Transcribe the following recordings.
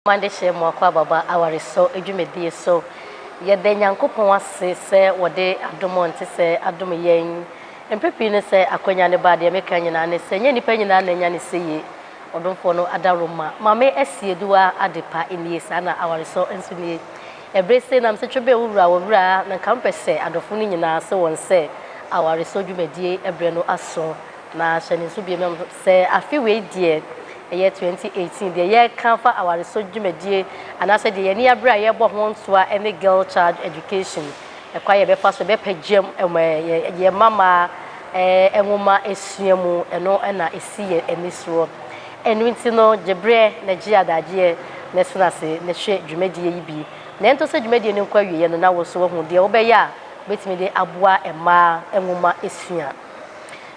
Mo adehyeɛ mo akwaababa awaresɔ dwumadie so. Yɛda Nyankopɔn ase sɛ wɔde adom ɔntesɛ adom yɛn. Mprɛ pii no sɛ akwanya no ba a deɛ meka nyinaa ne sɛ nyɛ nnipa nyinaa na anya no sɛ yie. Ɔdomfoɔ no Adaroma Mame Asieduwa Adepa nie, saa na awaresɔ nso nie. Ɛberɛ sei na mesetwe bɛn wo wura wɔ wura na nka mepɛ sɛ adɔfo no nyinaa se wɔn sɛ awaresɔ dwumadie berɛ no aso na hyɛ no nso biom. Sɛ afe wei deɛ ɛyɛ 2018 deɛ yɛreka afa awaresɔ dwumadie anaasɛ deɛ yɛn ani abere a yɛrebɔ ho ntoa ne girl child education, ɛkwan a yɛbɛfa so bɛpagyam yɛn mmammaa nwoma sua mu, ɛno na ɛsi yɛn ani soɔ. Ɛno nti no gye berɛ na gye adagyeɛ na ɛsene ase na hwɛ dwumadie yi bi na ɛntɔ sɛ dwumadie no nkɔ awieɛ no na wo nso woahu deɛ wobɛyɛ a wobɛtumi de aboa mmaa nwoma sua.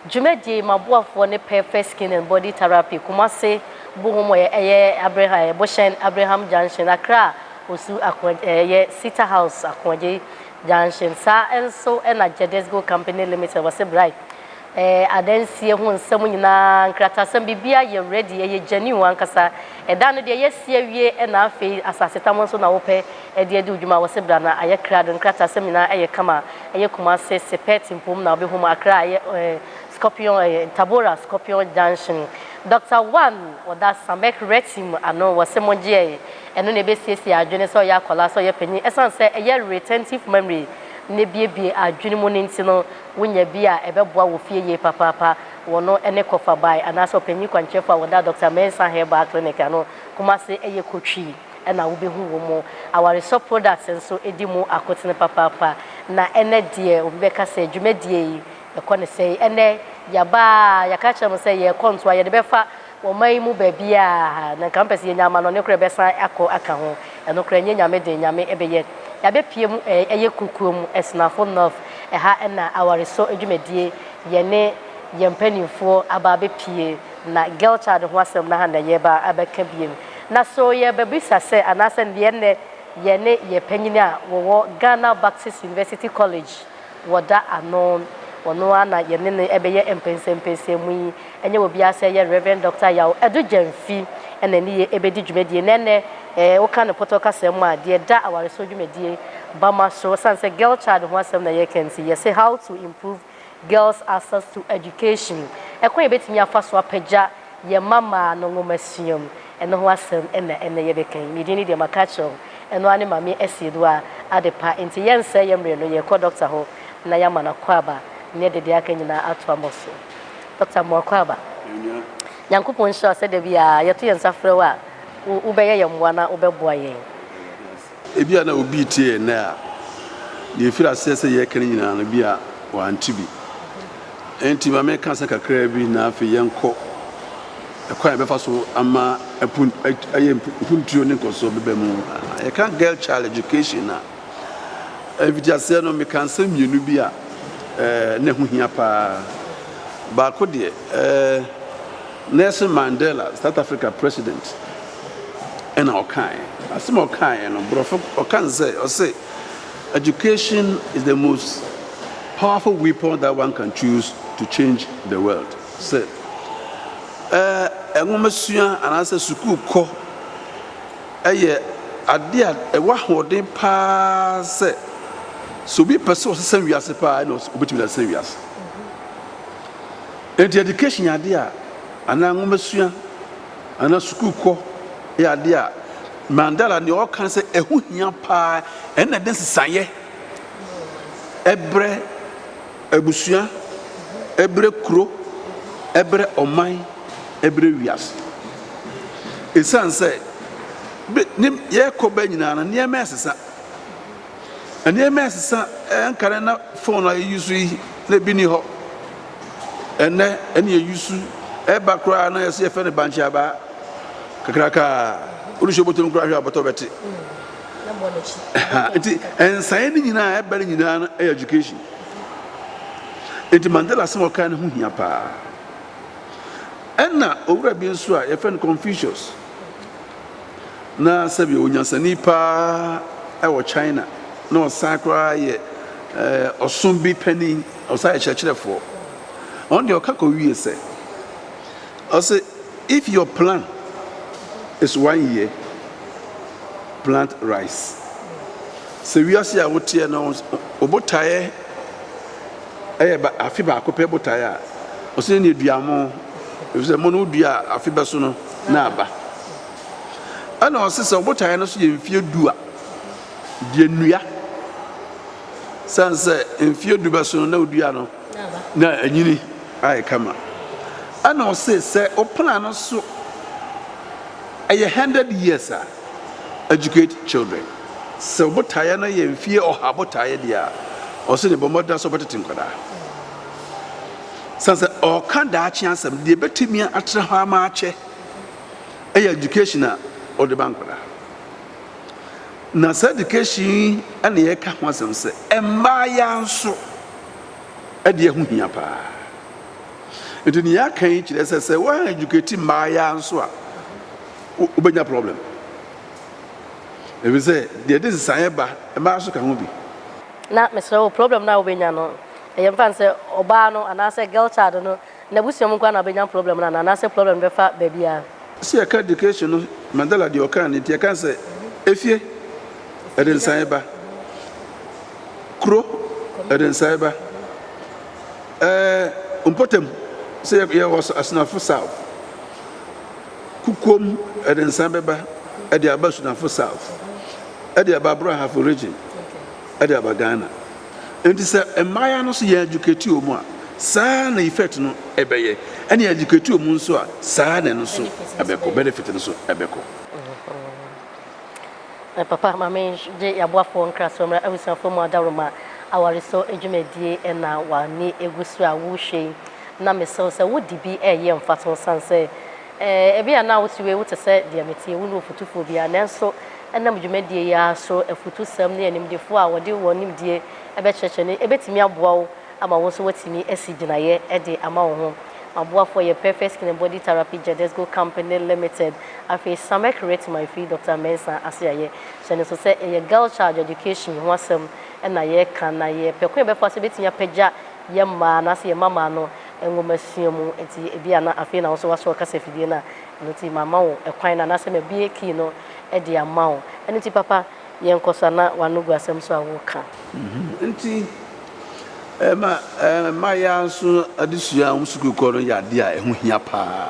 Dwumadie maboafoɔ ne Perfect Skin and Body Therapy Kumasi bohom wɔ ɛyɛ Abreham ɛ bohyɛn Abreham Junction Accra Osu Akoa ɛ yɛ Sita House Akoagye Junction saa nso na Jedesgo Company Limited wɔ se Brai ɛ adansie ho nsɛm nyinaa nkratasɛm biribiara yɛ ready ɛyɛ genuine ankasa ɛdan no deɛ yɛasi awie na afei asasetam nso na wopɛ ɛde adi wo dwuma wɔ sebra na ayɛ krado nkratasɛm nyinaa ɛyɛ kama ɛyɛ kumase sepɛɛte mpo mu na wobɛhu mu akra ɛyɛ eh, scorpion ɛyɛ tabora scorpion junction doctor one wɔda samek reti mu ano wɔ se mogye ɛyɛ ɛno na ɛbɛsiesie adwene sɛ ɔyɛ akɔla sɛ ɔyɛ panyin ɛsan sɛ ɛyɛ retentive memory ne biebie adwene mu no nti no wonya bi a ɛbɛboa wɔ fie yie papaapa wɔno ɛne kɔfa bae anaasɛ ɔpanyin kwankyerɛfo a wɔda doctor mensa herbal clinic ano kumase ɛyɛ kotwi na wobehu wɔ mu. Awaresɔ products nso di mu akotene papaapa, na ɛnnɛ deɛ obi bɛka sɛ dwumadie yi ɛkɔ ne sɛn, ɛnnɛ yɛaba a yɛaka akyerɛ mo sɛ yɛrekɔ ntoa, yɛde bɛfa ɔman yi mu baabiara, na nka mopɛ sɛ yɛnya amanɔne koraa a ɛbɛsan akɔ aka ho, ɛno koraa ɛnyɛ Nyame dee, Nyame bɛyɛ. Yɛabɛpue mu ɛyɛ kuokuo mu, Asinafo North, ɛha na awaresɔ dwumadie yɛne yɛn mpanimfoɔ aba abɛpue, na girl child ho asɛm no aha na yɛreba abɛka bio. Na so yɛrebɛbisa sɛ anaasɛ deɛ nnɛ yɛne yɛn panyin a wɔwɔ Ghana Baptist University College wɔda ano, ɔno ara na yɛne no rebɛyɛ mpɛnsɛmpɛnsɛmu yi, ɛnyɛ obiara sɛ ɛyɛ Rev. Dɔkta Yaw Adu Gyamfi na ɛne yɛn rebɛdi dwumadie no. Ɛnnɛ eh, woka no pɔtɔ kasa mu a, deɛ ɛda awaresɛɔ dwumadie Bama so, ɛsiane sɛ girl child ho asɛm na yɛreka nti, yɛse How to Improve Girls Access to Education, Ɛkwan a yɛbɛtumi afa so apagya yɛn mmammaa no nwomasua mu, ɛno ho asɛm na ɛnnɛ yɛbɛka yi. Me din no deɛ maka akyerɛ wo, ɛno ara ne Maame Asiedwaa Adepa. Enti yɛnnsɛe yɛn mmerɛ no, yɛrekɔ Dɔkta hɔ na yɛama no akwaaba ne deɛ aka nyinaa ato abɔ so. Dɔkta Amoah Kwaaba, Nyankopɔn nhyira wo sɛ da biara yɛto yɛn nsa frɛ wo a, wobɛyɛ yɛn mmoa na wobɛboa yɛn. Ebia na obi retie yɛn nnɛ a, nea efii aseɛ sɛ yɛreka no nyinaa no, ebia wante bi. Enti ma menka sɛ kakraa bi, na afei yɛnkɔ ɛkwan a yɛbɛfa so ama apun, ayɛ mpuntuo ne nkɔsoɔ bɛba mu. Yɛka girl child education a, mfitiaseɛ no meka nsɛm mmienu bi a eh, na ɛho hia paa. Baako deɛ, eh, Nelson Mandela, South Africa president, ɛna ɔkaeɛ. Asɛm a ɔkaeɛ no, borɔfo ɔka no sɛ, ɔse, Education is the most powerful weapon that one can choose to change the world. Sɛ eh, nwomasua anaasɛ sukuu kɔ yɛ adeɛ a ɛwɔ ahoɔden paa sɛ sɛ obi pɛ sɛ ɔsesa wiase paa ɛna obɛtumi de asesa wiase. Enti education yɛ adeɛ a anaa nwomasua anaa sukuukɔ yɛ adeɛ a, Mandela deɛ ɔka ne sɛ ɛho hia paa ɛna ɛde nsesaeɛ ɛbrɛ abusua, ɛbrɛ kuro, ɛbrɛ ɔman, ɛbrɛ wiase. Ɛsiane sɛ yɛkɔ bɛ nyinaa no nneɛma ɛsesa. Nneɛma ɛsesa ɛnkane na phone a yɛyusu yi na ebi ni hɔ ɛnɛ ɛne yɛyusu ɛba koraa na yɛsɛ yɛfɛ no bankye abaa kakraka wode hyɛ bɔtɔm koraa hwɛ abɔtɔ bɛte nti ɛnsaeɛ no nyinaa ɛba no nyinaa no ɛyɛ education nti Mandela asɛm ɔkaa no ho hia paa ɛna owura bi nso a yɛfɛ no Confucius na sɛdeɛ onyansani paa wɔ China na ɔsan koraa yɛ ɔsom bi panin, ɔsan yɛ kyerɛkyerɛfoɔ. Ɔno deɛ ɔka kɔwie sɛ, ɔse if your plan is one year, plant rice. Sɛ wiase a woteɛ no wo botaeɛ yɛ ba afe baako pɛ botae a, ɔsɛ ne dua mo, ɛfiri sɛ mo no wodua a afe bɛso no na aba. Ɛna ɔse sɛ botae no so yɛ mfeɛ du a, deɛ nnua sane sɛ mfeɛ du bɛso no na wodua no na anyini ayɛ kama. Ɛna ɔse sɛ wopena no so ɛyɛ 100 years a, Educate children, Sɛ wo botaeɛ no yɛ mfeɛ ɔha botaeɛ deɛ a, ɔwɔ sɛ bɔ mmɔden ara sɛ wobɛtete nkwadaa. Sane sɛ ɔreka daakye asɛm, deɛ ɛbɛtumi atra hɔ ama akyɛ yɛ education a wode ba nkwadaa. Na saa education yi na yɛka ho asɛm sɛ mmaayaa nso ɛdeɛ ho hia paa. Nti nea yɛaka yi kyerɛ sɛ sɛ woan educate mmaayaa nso a, wobɛnya problem ɛfisɛ deɛ ɛde nsesaeɛ ba mmaa nso ka ho bi. Na mesrɛ wo problem no a wobɛnya no ɛyɛ mfa no sɛ ɔbaa no anaasɛ girl child no n'abusua mu nkoa na ɔbɛnya problem no anaa anaasɛ problem no bɛfa baabiara. Sɛ yɛka education no Mandela deɛ ɔkaa no nti yɛka sɛ efie ɛde nsaeɛ ba, kuro ɛde nsaeɛ ba, ɛɛ mpɔtam sɛ yɛwɔ asenafo south Kokoam de nsa bɛba de aba Sunafo South, de aba Brahafo Region, de aba Ghana. Nti sɛ mmaeɛ no so yɛn adwokati wɔ mu a, saa na effect no bɛyɛ. Ɛne adwokati wɔ mu nso a, saa na ɛno nso bɛkɔ, benefit no nso bɛkɔ. Eh papa ma me gye yaboafoɔ nkrasoɔ mmra abusuafoɔ mu adaworoma awaresɔ dwumadie ɛna w'ani gu so a wohwɛ yi na mesrɛ wo sɛ wode bi ɛyɛ mfaso ɛsiane sɛ eh ebia na wote wei wote sɛ deɛ meteɛ wonni ofutufoɔ biara nanso ɛnam dwumadie yi ara so afutusɛm ne animdefoɔ a wɔde wɔn nimdie ɛbɛkyerɛkyerɛ no ɛbɛtumi aboa wo ama wo nso woatumi asi gyinaeɛ de ama wo ho Aboafoɔ yɛ Perfect Skin and Body Therapy Jedesco Company Limited. Afei Samek Retmai firi Doctor Mensah ase a yɛ hyɛ no nso sɛ yɛ girl child education ho asɛm na yɛ ka na yɛ pɛ kwan a yɛ bɛfa so bɛtumi apagya yɛ mmaa anaa sɛ yɛ mmammaa no nwoma sua mu nti ebi a na afei na wo nso wasɔ wo kasa fidie no a ɛno nti ma ma wo kwan no anaa sɛ ma bue key no de ama wo ɛno nti papa yɛnkɔ so anaa w'ano gu asɛm so a woreka. Nti, ɛma mmaayaa nso adesua a wɔn sukuukɔ no yɛ adeɛ a ɛho hia pa ara.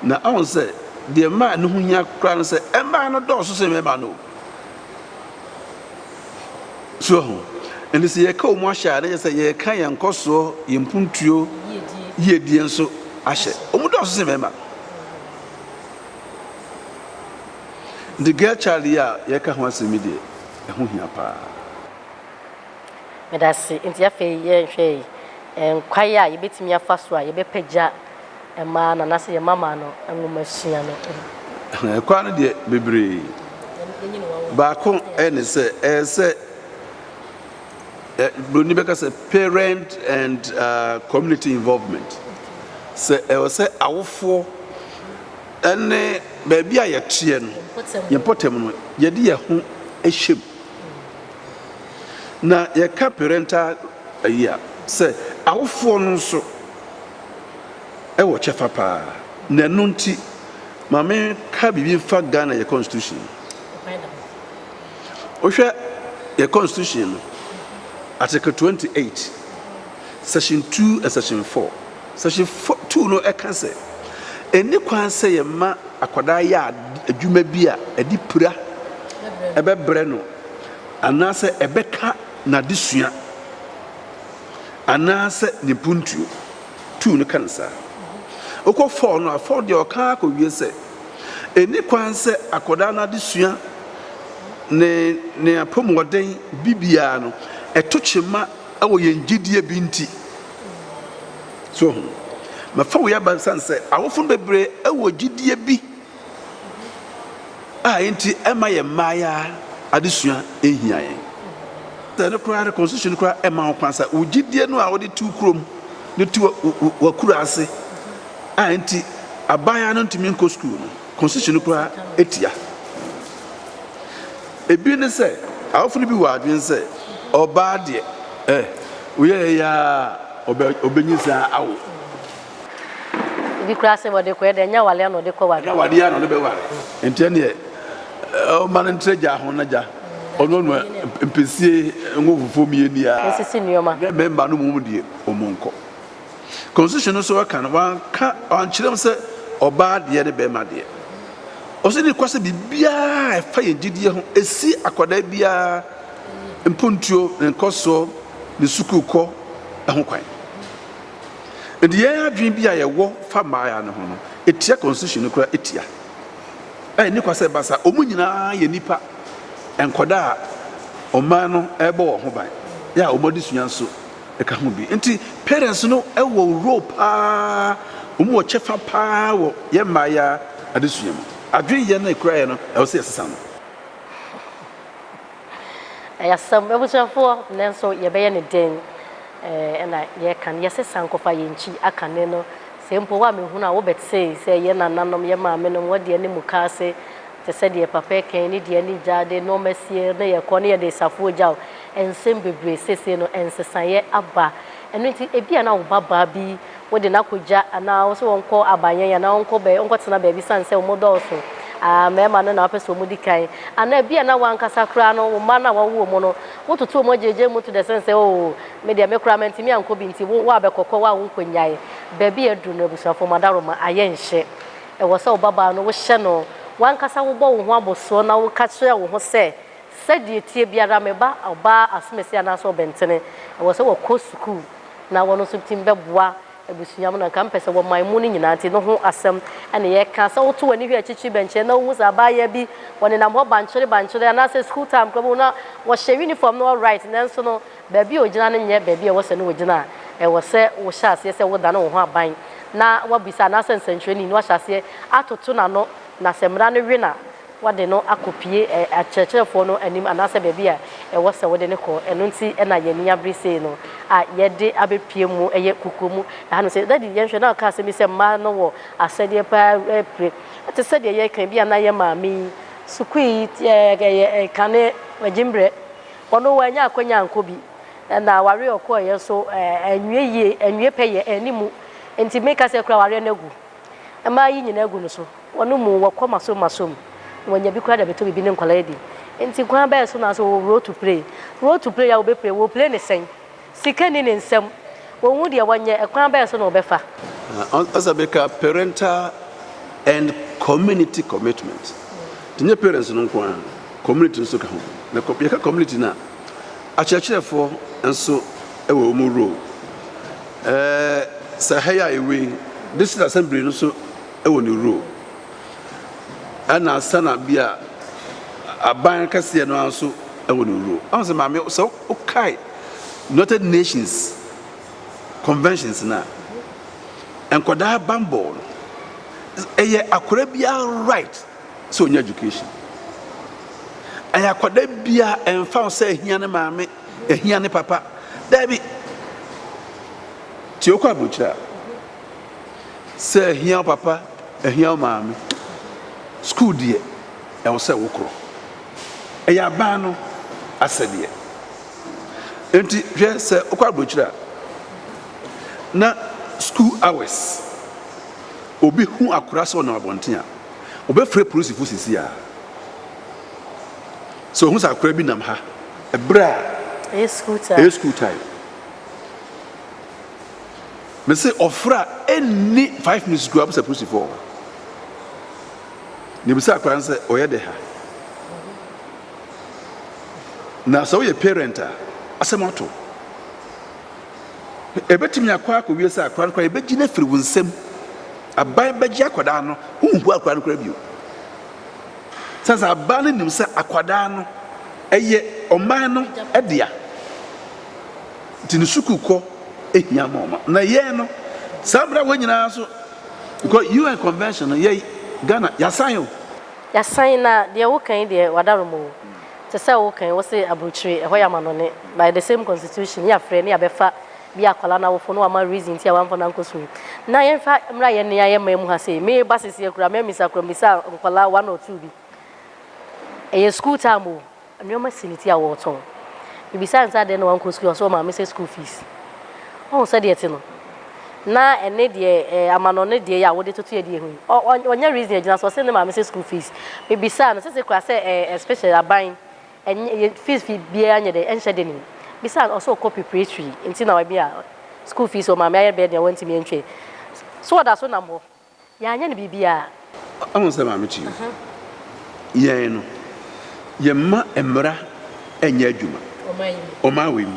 Na woahu sɛ deɛ ɛma ɛno ho hia koraa ne sɛ, mmaa no dɔɔso sen mmarima no o. So woahu? Ɛnti sɛ yɛreka wɔn ahyɛ a, na kyerɛ sɛ yɛreka yɛn nkɔsoɔ, yɛn mpuntuo, yiedie nso ahyɛ. Wɔdɔɔso sen mmarima. Enti Gertrude yi a yɛreka ho asɛm yi deɛ, ɛho hia paa. Medase. Enti afei yɛnhwɛ yi, nkwae a yɛbɛtumi afa so a yɛbɛpagya mmaa no anaasɛ yɛn mmammaa no nwomasua no ho. Ɛkwan no deɛ, bebree. Baako ne sɛ, ɛyɛ sɛ Buroni bɛka sɛ parent and uh, community involvement. Sɛ ɛwɔ sɛ awofoɔ Ɛne baabi a yɛteɛ no, yɛn mpɔtam no, yɛde yɛn ho hyɛ mu. Na yɛka parental ayi a, sɛ awofoɔ no nso wɔ kyɛfa paa. Na ɛno nti, ma menka biribi mfa Ghana yɛ constitution no. Wohwɛ yɛ constitution no, article 28, section 2 and section 4. Section four two no ka sɛ, Enni kwan sɛ yɛma akwadaa yɛ adwuma bi a ɛde pira bɛbrɛ no anaasɛ ɛbɛka n'adesua anaasɛ ne mpuntuo. Two no ka no saa. Wokɔ four no a, four deɛ ɔka ara kɔwie sɛ, Enni kwan sɛ akwadaa no adesua ne ne apɔmuden bibiara no, ɛto kyema wɔ yɛn gyedie bi nti. So ohu? Mɛfa wei aba nsan sɛ awofo no bebree wɔ gyidie bi a enti ɛma yɛn mmaayaa adesua nhia yɛn. Sɛ ɛno koraa no, constitution koraa ɛma ho kwan sɛ wo gyidie no a wode tu kurom de tu w'akura ase a enti abaayaa no ntumi nkɔ sukuu no, constitution no koraa ɛtia. Ebi ne sɛ, awofo no bi wɔ adwene sɛ, Ɔbaa deɛ, eh, woyɛ eyi ara a, ɔbɛnyinsɛn awo. Ebi koraa se, Wɔde kɔɛ deɛ, ɛnyɛ aware ara na ɔde kɔware. Ɛnyɛ awadeɛ ara na ɔde bɛware, enti ɛnneɛ, ɔmma no ntra gya ho na gya ɔnoanoa mpesee ngo fufuo mmieni ara, na mmarima no mmom deɛ, wɔnkɔ. Constitution no so ɔka no wanka wankyerɛ mu sɛ ɔbaa deɛ ne bɛɛma deɛ. Ɔsɛ ne kwa sɛ biribiara a ɛfa yɛn gyidie ho ɛsi akwadaa biara mpontuo, ne nkɔsoɔ, ne sukuu kɔ ɛho kwan. Nti yɛn adwene bi a yɛwɔ fa mmaaya no ho no ɛtia Constitution no kora ɛtia. Ɛyɛ ne kwa sɛ ɛba saa. Ɔmo nyinaa yɛ nipa nkɔdaa a ɔman no ɛbɔ wɔn ho ban. Yɛ a ɔmo adesua nso ɛka ho bi. Nti parents no wɔ role paa, wɔn wɔ kyɛfa paa wɔ yɛn mmaayaa adesua mu. Adwene yɛ no ɛkura yɛ no ɛwɔ sɛ yɛsesa no. Ɛyɛ asɛm abusuafoɔ nanso yɛbɛyɛ no den ɛna yɛka no yɛsesa nkɔfa yɛn kyi aka ne no. Sɛ mpo wo a mehunu a wobɛtee sɛ yɛn nananom, yɛn maame nom wɔdeɛ ne mukaase Te sɛ deɛ papa ɛkɛn ne deɛ ne gya de nnoɔma sie ne yɛ kɔ ne yɛ de safoɔ gyaw nsɛm bebree seesei no nsesaeɛ aba ɛno nti ebia na wo ba baa bi wo de no akɔ gya anaa wo se wɔn kɔ abayɛn anaa wɔn kɔ bɛ wɔn kɔ tena baabi sane sɛ wɔn dɔɔso aa mɛɛma no na wɔpɛ sɛ wɔn di kan anaa ebia na wɔn ankasa koraa no wɔn mma na wɔn wo wɔn no wo toto wɔn gyegye mu to dɛ sɛn sɛ oo me deɛ me koraa mɛntumi ankɔ bi nti wo wo abɛkɔkɔ wo a wo nkɔ nyae baabi a aduru no abusuafoɔ mo adaroma ayɛ nhyɛ Ɛwɔ sɛ wobabaa no wohyɛ no w'ankasa wobɔ wo ho abɔsoɔ na woka kyerɛ wo ho sɛ, Sɛdeɛ ɛteɛ biara me ba ɔbaa asomasi anaasɛ ɔbɛntene, ɛwɔ sɛ wɔkɔ sukuu na wɔn nso tumi bɛboa abusua mu na nka mpɛ sɛ wɔman mu no nyinaa nti no ho asɛm na yɛreka. Sɛ woto w'ani hwɛ akyirikyiri bɛnkyɛn na wohu sɛ abaayewa bi wɔnenam hɔ bankyere bankyere anaasɛ sukuu time koraa wobɛhu na wɔhyɛ uniform no alright nanso no Baabi a ogyina no nyɛ baabi a ɛwɔ sɛ na ogyina a ɛwɔ sɛ wohyɛ aseɛ sɛ wodan wo ho aban na woabisa anaasɛ nsɛnkyerɛnni no ahyɛ aseɛ atoto n'ano na sɛ mmara no we no a woade no akɔpue akyerɛkyerɛfoɔ no anim anaasɛ baabi a ɛwɔ sɛ wode no kɔ. Ɛno nti na yɛn ani abere sei no a yɛde abɛpue mu yɛ kukuo mu ɛhanom sei. Daddy yɛnhwɛ na ɔkaa asɛm bi sɛ mmaa no wɔ asɛdeɛ paa pire te sɛ deɛ yɛka yi, ebia na yɛn maame yi, sukuu yi, ɛɛ, kane, gyimbrɛ. Ɔno wannya akwanya ankɔ bi, na awareɛ a ɔkɔeɛ nso anwie yie, anwie pɛyɛ, anni mu. Enti meka sɛ kura awareɛ no agu. Mmaa yi nyinaa agu no so. Wɔnom mu, wɔkɔ masom masom. Wɔnya bi koraa de abɛtɔ biribi ne nkwadaa adi. Enti kwan bɛn so na sɛ wɔwɔ role to play? Role to play a wɔbɛplay, wɔplee ne sɛn? Sika nni ne nsam. Ɔnhu deɛ ɔnyɛ. Ɛkwan bɛn so na ɔbɛfa? Ɔsɛ bɛka parental and community commitment. Ɛnyɛ parents no nko ara, community nso ka ho. Na yɛka community no a, akyerɛkyerɛfoɔ nso wɔ wɔn role. Ɛɛ sɛ ha yi a yɛwɔ yi, district assembly no nso wɔ ne role. Ɛna ansa na bi a aban kɛseɛ no ara nso wɔ ne role. Ɔn sɛ maame sɛ wokae United Nations conventions no a, nkwadaa bambɔ no, ɛyɛ akwadaa biara right sɛ ɔnya education. Ɛyɛ akwadaa biara ɛmfa ho sɛ ɛhia ne maame, ɛhia ne papa. Daabi, tie okɔ aburokyerɛ a, sɛ ɛhia wo papa, ɛhia wo maame, sukuu deɛ, ɛwɔ sɛ wokorɔ. Ɛyɛ aban no asɛdeɛ. Nti hwɛ sɛ wokɔ aburokyire a na school hours obi hu akora sɛ ɔnam abɔnten a wɔbɛfrɛ polisifo sisi a sɛ ɔhu sɛ akora bi nam ha ɛberɛ a ɛyɛ school time. Ɛyɛ school time. Mese ɔfrɛ a ɛnni five minutes kura sɛ polisifoɔ Na ebisa akwadaa no sɛ, ɔyɛ dɛ ha? Na sɛ woyɛ parent a, asɛm ato. Ebetumi akɔ akɔwie sɛ akwadaa no koraa ebegye no afiri wo nsam. Aban bɛgye akwadaa no, wonhu akwadaa no koraa bio. Sɛ sɛ aban no nim sɛ akwadaa no ɛyɛ ɔman no dea. Nti ne sukuu kɔ ehia ma ɔma. Na yɛn no, saa mmara wɔ nyinaa so Because UN convention no yɛi Ghana yasan o. Yasan na deɛ wo ka yi deɛ wadarom o. Te sɛ wo ka yi wo se abrokyire ɛhɔ yɛ amanɔne by the same constitution ne yafrɛ ne yabɛfa bi akwadaa no awofo no wama reason nti a wamfa no ankɔ sukuu. Na yɛnfa mmra yɛn nea yɛ man mu ha sei me ba seseɛ koraa mɛ misa koraa misa nkwadaa one or two bi ɛyɛ sukuu time o. Nneɛma si ne ti a ɔretɔn. Mibisaa no sɛ adɛn na wankɔ sukuu, ɔse ɔmaa me sɛ school fees. Woahu sɛdeɛ ɛte no? Na ɛne deɛ eh, amanɔne deɛ yi a wode totoeɛ deɛ hu yi, ɔ, ɔ, ɔnyɛ reason a ɛgyina so, ɔse ne maa me sɛ school fees. Mibisaa no, sese koraa sɛ eh, especially aban, ɛnyɛ, yɛ fees fee biara nyɛ dɛn, ɛnhyɛ deni. Mibisaa no, ɔse ɔkɔ preparatory, nti na ebi a school fees ɔmaa me ayɛ bɛyɛ den a wantumi antwa yi. So ɔda so nam hɔ. Yɛanyɛ no biribiara. Woahu sɛ Maame Kyi yɛn no, yɛmma mmara nyɛ adwuma ɔman wei mu.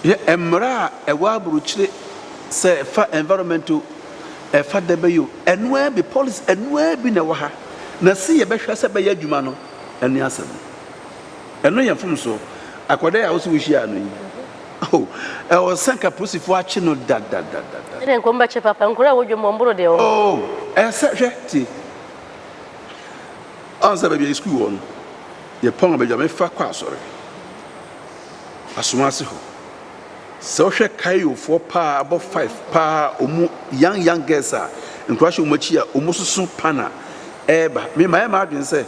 Yɛ mmara a ɛwɔ aburokyire sɛ ɛfa environment o, ɛfa dɛ bɛyɛ o, ɛno ara bi, policy ɛno ara bi na ɛwɔ ha. Na se yɛbɛhwɛ sɛ ɛbɛyɛ adwuma no, ɛne asɛm no. Ɛno yɛ mfomsoɔ. Akwadaa yi a wo se wohyiaa no yi, Oh, ɛwɔ sɛ nka polisifoɔ akye no dadadadada. Ɛne nko mbɛkye papa nkura a wodwam wɔn boro deɛ wɔn. Oh, ɛsɛ hwɛ tie. Ɔn sɛ baabi a yɛ sukuu wɔ no, yɛ pɔn baabi a mefa kɔ asɔre. Asomase hɔ. Sɛ wohwɛ kayofoɔ paa abɔ five paa ɔmu young young girls a nkura hyɛ ɔmu akyi a ɔmu soso pana ɛɛba. Me ma yɛ ma adwene sɛ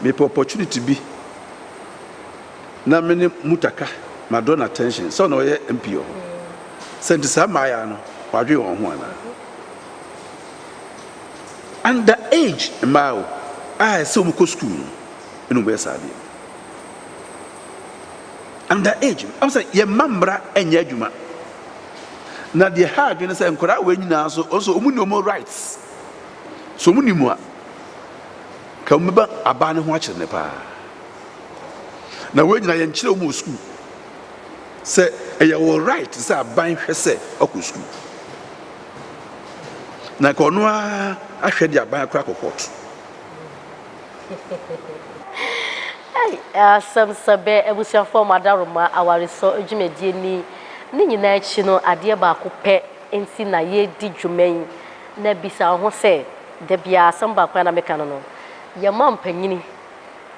mepɛ opportunity bi na me ne Mutaka madɔ no attention sɛ na ɔyɛ MP wɔ hɔ, sɛ nti saa mmaayaa no wɔadwen wɔn ho anaa? Under age mmaa o, a ɛsɛ wɔn kɔ school no ɛna wɔn yɛ saa adeɛ no. Under age, ɔmo sɛ yɛn mma mmra ɛnyɛ adwuma, na deɛ ha adwene sɛ nkwadaa wɔ nyinaa nso ɔso wɔn ni wɔn rights, so wɔn ni mu a, ka wɔn bɛba abaa ne ho akyerɛ ne paa. Na wei nyinaa yɛnkyerɛ wɔn wɔ sukuu sɛ ɛyɛ wɔn right sɛ aban hwɛ sɛ ɔkɔ sukuu. Na nka ɔno ara ahwɛ de aban akora akɔ kɔɔto. Asɛm sɛ bɛ abusuafoɔ wɔn adaworoma awaresɔ dwumadie ni. Ne nyinaa akyi no, adeɛ baako pɛ nti na yɛredi dwuma yi. Na bisa wo ho sɛ, da biara asɛm baako a na meka no no, yɛma mpanyini,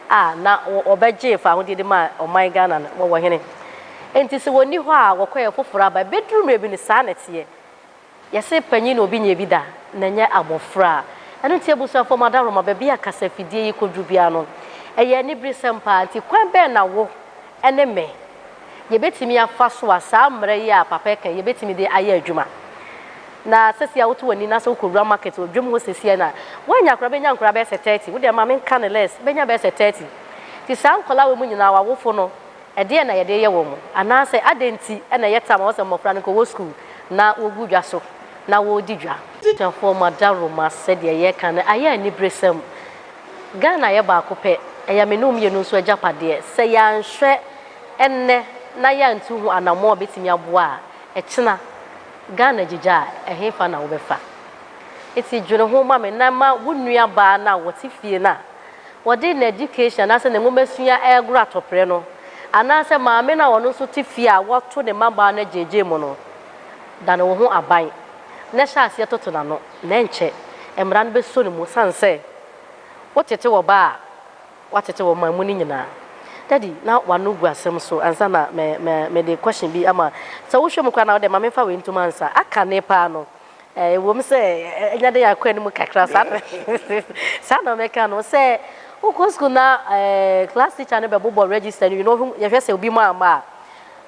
a na wɔbɛgyee fahodie de maa ɔman Ghana no, wɔwɔ hene. Enti sɛ wɔnni hɔ a, wɔkɔ yɛ foforɔ aba. Ɛbɛduru mmerɛ bi no, saa na ɛteɛ. Yɛse panyin na obi nyɛ bi da, na ɛnyɛ abɔfra. Ɛno nti abusuafoɔ mo adaworoma, baabi a kasafidie yi kɔduru biara no, ɛyɛ aniberesɛm paa. Nti kwan bɛn na wo, ne me. Yɛbɛtumi afa so a saa mmerɛ yi a papa ɛka yi yɛbɛtumi de ayɛ adwuma. Na sɛsi a woto w'ani na sɛ wokɔ wura market wɔ dwom hɔ sɛsi a na woanya koraa bɛnya nkoraa bɛyɛ sɛ 30 wo deɛ ma me nka no less bɛnya bɛyɛ sɛ 30 nti saa nkwadaa wei mu nyinaa w'awofo no ɛdeɛn na yɛde yɛ wɔn anaa sɛ adɛn nti na ɛyɛ ta ma wɔn sɛ mmɔfra no nka wɔwɔ school na wɔgu dwa so na wɔredi dwa. Abusuafoɔ mo adaworo ma sɛdeɛ yɛreka no ayɛ aniberesɛm Ghana yɛ baako pɛ, ɛyɛ me ne wo mmienu nso agyapadeɛ. Sɛ yɛanhwɛ ɛnnɛ na yɛantu ho anammɔn a ɛbɛtumi aboa a, ɛkyena Ghana gyigya a, ɛhefa na wobɛfa? Nti dwene ho ma me na ma wo nuabaa no a ɔte fie no a ɔde n'education anaasɛ ne nwomasua regoro atɔprɛ no, anaasɛ maame no a ɔno nso te fie a wato ne mmabaa no agyaagyaamu no, dane wo ho aban na hyɛ aseɛ toto n'ano. na ɛnkyɛ Mmara no bɛsɔ ne mu ɛsiane sɛ wotete wɔ ba a watete wɔ ɔman mu no nyinaa. Daddy, na w'ano gu asɛm so ansa na me, me, mede question bi ama. Sɛ wohwɛ mu koraa na wode ma memfa wei ntom ansa. Aka ne paa no. Ɛɛ, ɛwom sɛ anya dɛn akɔ anim kakra saa na, saa na mɛka no. Sɛ wokɔ sukuu na ɛɛ, class teacher no bɛbobɔ register no wie na ɔhwɛ, yɛhwɛ sɛ obi mu amma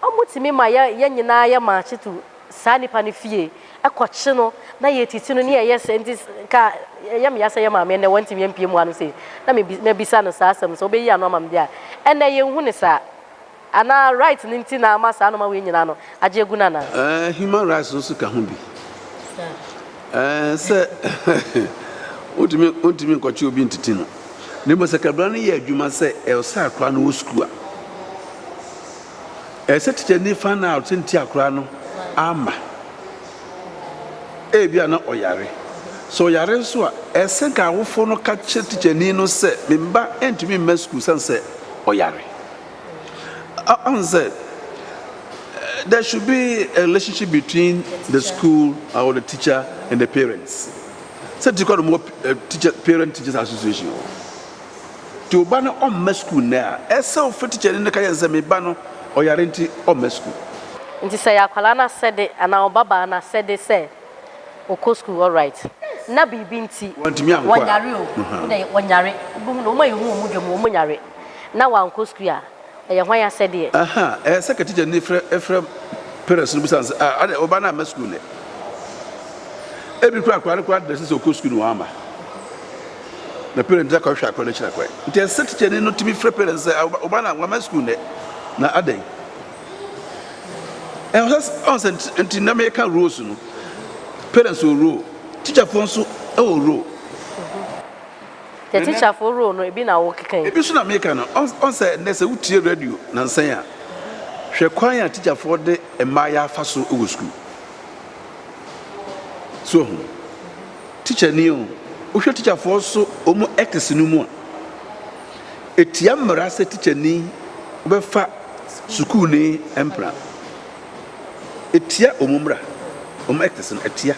a, wɔtumi ma yɛ, yɛn nyinaa yɛ march to saa nipa no fie kɔkye no na yɛtiti no ne yɛyɛ sɛ nti ka ɛyɛ me ya sɛ yɛ maame ɛnɛ wɔntumi ampie mu ano sei na mebisa no saa asɛm sɛ wobɛyi ano ama me deɛ a ɛnɛ yɛnhu ne saa anaa right no nti na ama saa noma wei nyinaa no agye agu no anaa. Ɛɛ human rights nso ka ho bi ɛɛ sɛ wontumi wontumi nkɔkye obi ntiti no na mmom sɛ kabra no yɛ adwuma sɛ ɛwɔ sɛ akora no wɔ sukuu a. Ɛsɛ sɛ tikyani fa no a ɔte nte akwadaa no ama. Ebia na ɔyare. Sɛ ɔyare nso a, ɛsɛ sɛ nka awofo no ka kyerɛ tikyani no sɛ, me mma ntumi mma sukuu sane sɛ ɔyare. Ahu sɛ there should be a relationship between the school or the teacher and the parents. Sɛ ti kɔ no mɔ teacher parent teachers association wɔ. nti wo ba no ɔmma sukuu nnɛ a, ɛsɛ sɛ wofa tikyani no ka kyerɛ no sɛ, Me ba no, ɔyare nti ɔmma sukuu. Nti sɛ ɛyɛ akwadaa no asɛde anaa ɔbabaa no asɛde sɛ ɔkɔ sukuu, alright. Na biribi nti, Wantumi ankɔ a. wɔnyare o, wode wɔnyare, wobɛhu no, wɔn a yɛhu wɔn dwa mu, wɔnyare na wɔankɔ sukuu a, Ɛyɛ hwan asɛdeɛ? Ahaa, ɛyɛ sɛ katikyani frɛ frɛ parents no bisa no sɛ, ah, adɛn, wo ba no amma sukuu nnɛ? Ebi koraa akwadaa no koraa dɛsɛ sɛ ɔkɔ sukuu no wamma. Na parents no akɔhwehwɛ akwadaa no akyiri akwan. Nti ɛsɛ sɛ tikyani no tumi frɛ parents sɛ, ah, wo ba no wamma sukuu nnɛ, na adɛn? Ɛwɔ sɛ ɔn sɛ nti na meka roles no, parents wɔ role, tikyafoɔ nso wɔ role. Yɛ tikyafo role no ebi na wo keka yi. Ebi nso na meka no. Ɔn sɛ nnɛ sɛ wo tie radio nansɛn a, hwɛ kwan a tikyafoɔ de mmayeaa fa so wɔ sukuu. So wahu? Tikya ni o, wo hwɛ tikyafoɔ so wɔn ethics no mu a, etia mmara sɛ tikya ni bɛ fa sukuu ni mpena. Etia wɔn mmara, wɔn ethics no, etia.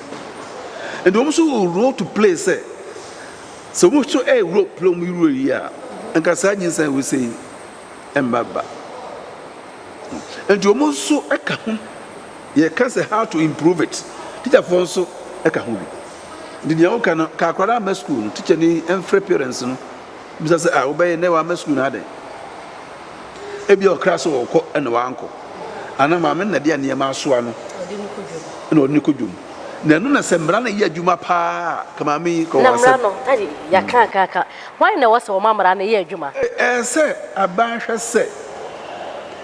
Nti wɔn nso wɔ role to play sɛ Sɛ obi nso yɛ wura pira mu wura yi a, nka saa nyinsɛn a wosɛ yi mma ba. Nti wɔn nso ka ho. Yɛka sɛ how to improve it. Tikyafoɔ nso ka ho bi. Nti deɛ woka no, ka akwadaa ama sukuu no, tikyani mfrɛ parents no bisa sɛ, ah, wobɛyɛ nnɛ wama sukuu no adɛn? Ebia ɔkra sɛ ɔrekɔ na wankɔ, anaa maame no na ɛde nneɛma asoa no na ɔde no kɔ dwom. Na ɛno na sɛ mmara no yɛ adwuma paa a, ka maame yi kɔ wɔn asɛm. Na mmara no, ɛde yɛaka aka aka. Wɔn na ɛwɔ sɛ wɔma mmara no yɛ adwuma. Ɛyɛ sɛ aban hwɛ sɛ,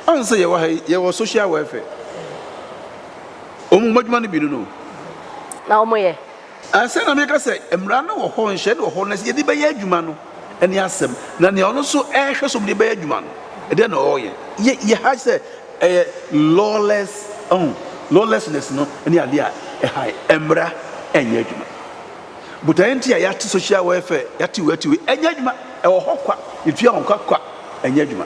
wɔn sɛ yɛwɔ ha yi, yɛwɔ social welfare. Wɔn adwuma no bi no no. Na wɔyɛ. Ansa na meka sɛ mmara no wɔ hɔ, nhyehyɛe no wɔ hɔ, na sɛ yɛde bɛyɛ adwuma no ne asɛm. Na nea ɔno nso rehwɛ sɛ wɔde bɛyɛ adwuma no, ɛdeɛn na ɔreyɛ? Yɛ yɛ ha sɛ ɛyɛ lawless, ɔho, lawlessness no ne adeɛ a ɛha yɛn. Mmara nyɛ adwuma. Botaeɛ nti a yɛate social welfare, yɛate wei, yɛate wei, ɛnyɛ adwuma. Ɛwɔ hɔ kwa, yɛtua wɔn kwa kwa, ɛnyɛ adwuma.